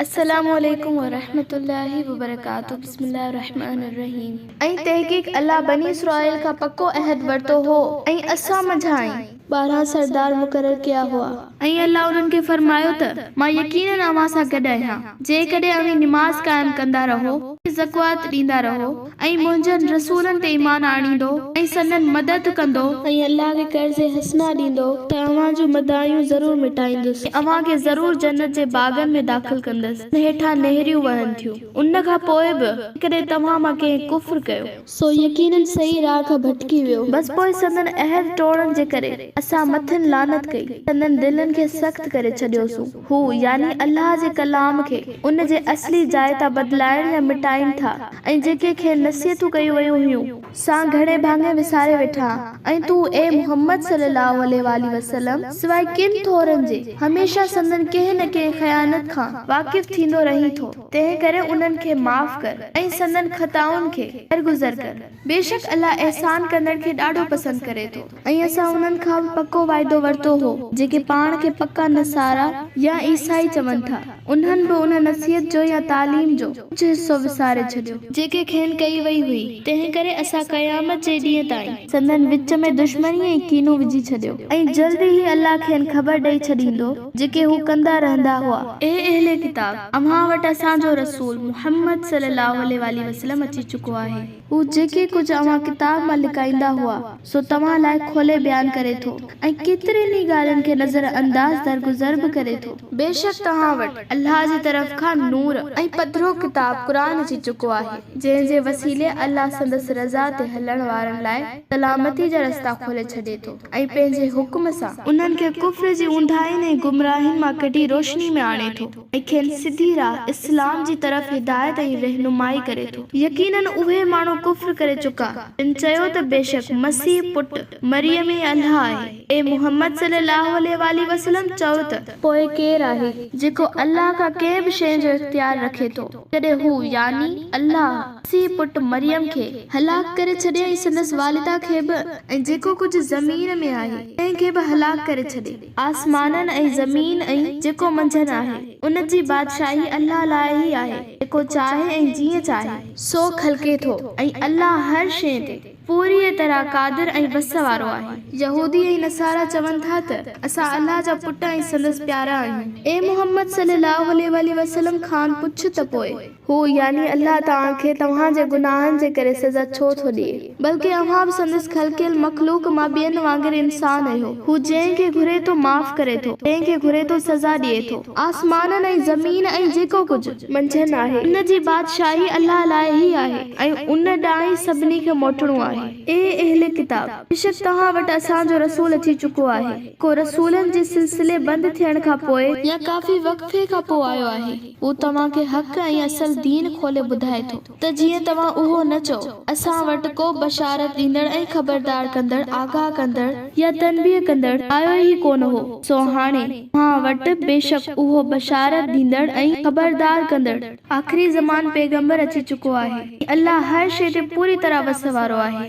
السلام عليڪم ورحمة الله وبرڪاته بسم الله الرحمٰن الرحيم ۽ تحقيق الله بني اسرائيل کان پڪو عهد ورتو هو ۽ اسان منجهانئن ٻارهن سردار مقرر ڪيا هئا. ۽ الله انهن کي فرمايو ته مان يقيناً اوهان سان گڏ آهيان جيڪڏهن اوهين نماز قائم ڪندا رهو ۽ زڪوات ڏيندا رهو. ۽ منهنجن رسولن تي ايمان آڻيندو ۽ سندن مدد ڪندو. ۽ الله کي قرض حسنه ڏيندو ته اوهان جون مدايون ضرور مٽائيندس. ۽ اوهان کي ضرور جنت جي باغن ۾ داخل ڪندس جن هيٺان نهريون وهن ٿيون ان کان پوء به جيڪڏهن توهان مان ڪنهن ڪفر ڪيو. سو يقيناً صحيح راهه کان ڀٽڪي ويو. بس پوء سندن عهد ٽوڙڻ جي ڪري اسان مٿن لعنت ڪئي ۽ سندن دلن کي سخت ڪري ڇڏيوسون. هو، يعني الله جي ڪلام کي، ان جي اصلي جاء تان بدلائڻ يا مٽائين ٿا. ۽ جيڪي کين نصيحتون ڪيون ويون هيون سان گهڻي ڀاڱي وساري ويٺا ۽ تون اي محمد صلي الله عليه واٰله وسلم سواء ڪن ٿورن جي هميشه سندن ڪنهن نه ڪنهن خيانت کان واقف ٿيندو رهين ٿو تنهن ڪري انهن کي معاف ڪر ۽ سندن خطائن کي درگذر ڪر بيشڪ الله احسان ڪندڙ کي ڏاڍو پسند ڪري ٿو. ۽ اسان انهن کان به پڪو وعدو ورتو هو، جيڪي پاڻ کي پڪا نصارا يا عيسائي چون ٿا، انهن به ان نصيحت جو يا تعليم جو ڪجهه حصو وساري ڇڏيو، جيڪي کين ڪئي وئي هئي، تنهنڪري اسان قيامت جي ڏينهن تائين. سندن وچ ۾ دشمني ۽ ڪينو وجهي ڇڏيو، ۽ جلد ئي الله کين خبر ڏئي ڇڏيندو، جيڪي هو ڪندا رهندا هئا. اي اهل ڪتاب! اوهان وٽ اسان جو رسول، محمد صلّي اللّٰه عليه واٰله وسلّم، اچي چڪو آهي. هو جيڪي ڪجهه اوهان ڪتاب مان لڪائيندا هئا، سو توهان لاء کولي بيان ڪري ٿو ۽ ڪيترين ئي ڳالهين کي نظر انداز درگذر به ڪري ٿو. بيشڪ توهان وٽ الله جي طرف کان نور ۽ پڌرو ڪتاب قرآن اچي چڪو آهي، جنهن جي وسيلي الله سندس رضا تي هلڻ وارن لاء سلامتي جا رستا کولي ڇڏي ٿو ۽ پنهنجي حڪم سان انهن کي ڪفر جي اونداهين ۽ گمراهين مان ڪڍي روشني ۾ آڻي ٿو. ۽ کين سڌي راھ اسلام جي طرف هدايت ۽ رهنمائي ڪري ٿو. يقيناً اهي ماڻهو ڪفر ڪري چڪا. تن چيو ته بيشڪ مسيح پٽ مريم ئي الله آهي. اي محمد صلّي اللّٰه عليه واٰله وسلّم چؤ ته. پوء ڪير آهي جيڪو الله کان ڪنهن به شيء جو اختيار رکي ٿو جڏهن هو، يعني الله، مسيح پٽ مريم کي هلاڪ ڪري ڇڏي ۽ سندس والده کي به ۽ جيڪو ڪجهه زمين ۾ آهي تنهن کي به هلاڪ ڪري ڇڏي. آسمانن ۽ زمين ۽ جيڪو منجھن آهي، ان جي بادشاهي الله لاء ئي آهي، جيڪو چاهي ۽ جيئن چاهي. سو خلقي ٿو ۽ الله هر شيء تي پوريء طرح قادر ۽ وس وارو آهي. يهودي ۽ نصارا چون ٿا ته اسان الله جا پٽ ۽ سندس پيارا آهيون. اي محمد صلي الله عليه واٰله وسلم کان پڇ ته پوء. هو، يعني الله، توهان کي توهان جي گناهن جي ڪري سزا ڇو ٿو ڏئي؟ بلڪه اوهان به سندس خلقيل مخلوق مان ٻين وانگر انسان اهيو. هو جنهن کي گهري ٿو معاف ڪري ٿو، ڪنهن کي گهري ٿو سزا ڏئي ٿو. آسمانن ۽ زمين ۽ جيڪو ڪجهه. منجهن آهي. ان جي بادشاهي الله لاء ئي آهي ۽ ان ڏانهن ئي سڀني کي موٽڻو آهي. اي اهل ڪتاب! بيشڪ توهان وٽ اسان جو رسول اچي چڪو آهي. ڪو رسولن جي سلسلي بند ٿيڻ کان پوء. يا ڪافي وقفي کان پوء آيو آهي. هو توهان کي حق ۽ اصل دين کولي ٻڌائي ٿو ته جيئن توهان اهو نه چئو، اسان وٽ ڪو بشارت ڏيندڙ ۽ خبردار ڪندڙ، آگاهه ڪندڙ، يا تنبيهه ڪندڙ آيو ئي ڪونه هو، سو هاڻي توهان وٽ بيشڪ اهو بشارت ڏيندڙ ۽ خبردار ڪندڙ، آخري زمان پيغمبر اچي چڪو آهي، ۽ الله هر شيء تي پوري طرح وس وارو آهي.